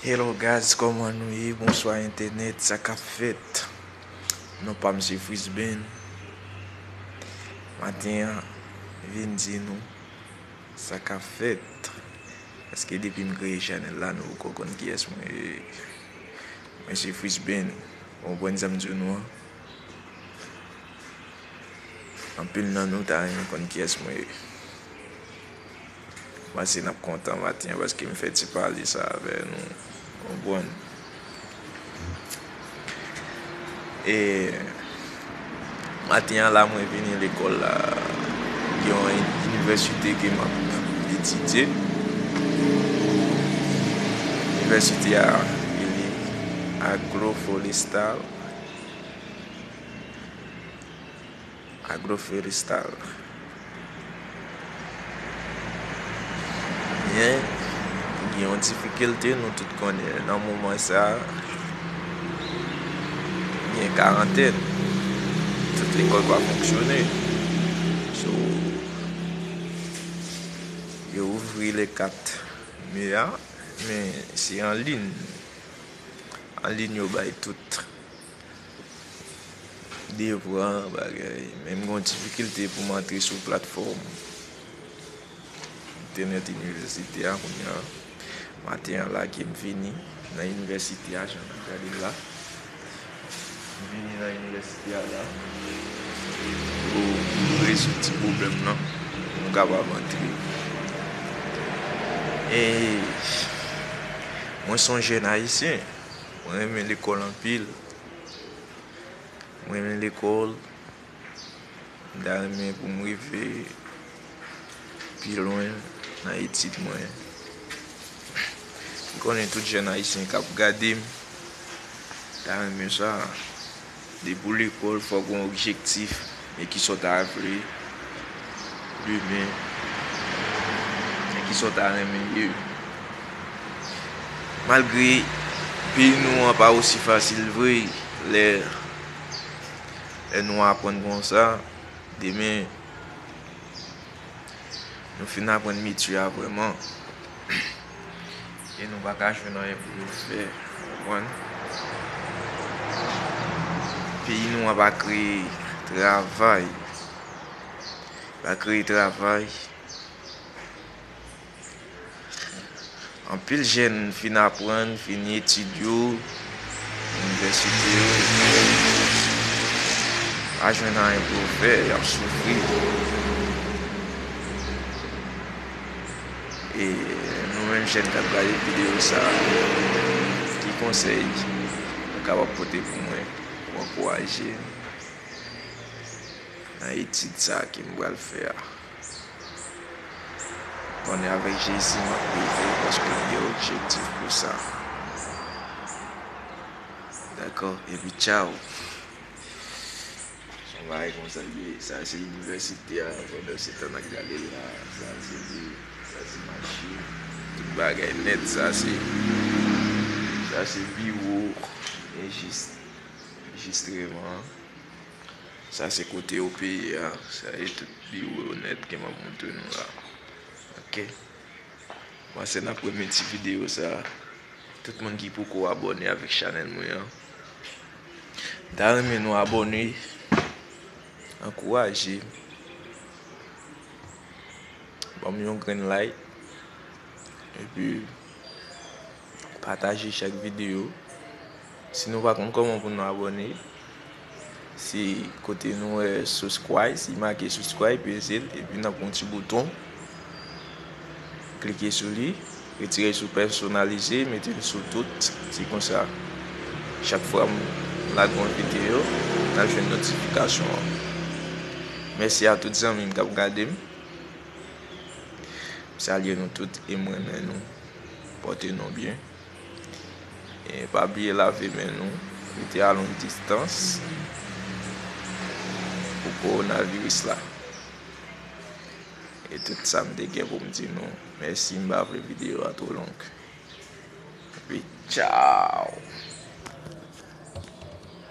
Hello guys koman nou ye bonswa entenet sa kap fet non pam se frisben maten an vin di nou sa kap fet eske depi m kreye chanel la nou poko konn kiyes mwen ye mwen se frisben ou konprann sa m di w nou an anpil nan nou ta renmen konn kiyes mwen ye. M panse nap kontan maten an paske m fè ti pale sa avè nou ou konprann e maten an la mwen vini lekòl la gen yon inivèsite ke map etidye inivèsite a rele Agloforestal. Agroforestal Gen yon difikilte nou tout konnen nan moman sa a, gen karantèn, tout lekòl pa fonksyone. So, yo ouvri le 4 me a, men se anlin. Anlin yo bay tout. Devran bagay. Men m gon difikilte pou m antre sou platfòm entènèt inivèsite a kounya. Maten an la ke m vini nan inivèsite a jan nap gade la. M vini nan inivèsite a la pou m rezoud ti pwoblèm lan pou m kapab antre. E mwen s on jèn ayisyen. Mwen renmen lekòl anpil. Mwen renmen lekòl. Mwen ta renmen pou m rive pi lwen nan etid mwen. M konnen tout jèn ayisyen k ap gade m ta renmen sa. Depi w lekòl fòk gen yon objektif men ki sa w ta vle demen men ki sa w ta renmen ye. Malgre peyi nou an pa osi fasil vre lè nou aprann konsa demen. Nou fin aprann metye a vrèman. E nou pa ka jwenn anyen pou nou fè. Ou konprann? Peyi nou an pa kreye travay. Pa kreye travay. Anpil jèn fin aprann, fini etid yo, inivèsite yo, pa jwenn anyen pou yo fè, y ap soufri. E nou menm jèn k ap gade videyo sa, ki konsèy ou kapab pote pou mwen pou ankouraje m nan etid sa ke m pral fè a? Konnen avèk Jezi m ap rive paske li gen objektif pou sa. Dakò, epi tchaw! Son bagay konsa l ye. Sa se inivèsite a, pandan se tan n ak gade l la. Sa se li, sa se machin, tout bagay nèt. Sa se, sa se biwo enjis, enjistreman an. Sa se kote yo peye a. Sa se tout biwo yo nèt ke map montre nou la. Ok. Panse nap renmen ti video sa. Tout moun ki poko abone avek chanel mwen an. M ta renmen nou abone. Ankouraje m. Banm yon grenn like. Epi. Pataje chak video. Si nou pa konn koman pou nou abone. Se kote nou wè subscribe. Si make subscribe pezel. Epi nan pon ti bouton. Klike sou li. Retire sou personalize. Mete l sou tout. Se konsa. Chak fwa m lage yon video. Nan jwenn notifikasyon an. Mèsi a tout zanmim kap gadem. M salye nou tout e m renmen nou. Pòte nou byen. E pa bliye lave men nou. Mete alon distans pou kowonaviris la. E tout sa m te gen pou m di nou. Mèsi m pa vle videyo a two long. Epi tchaw!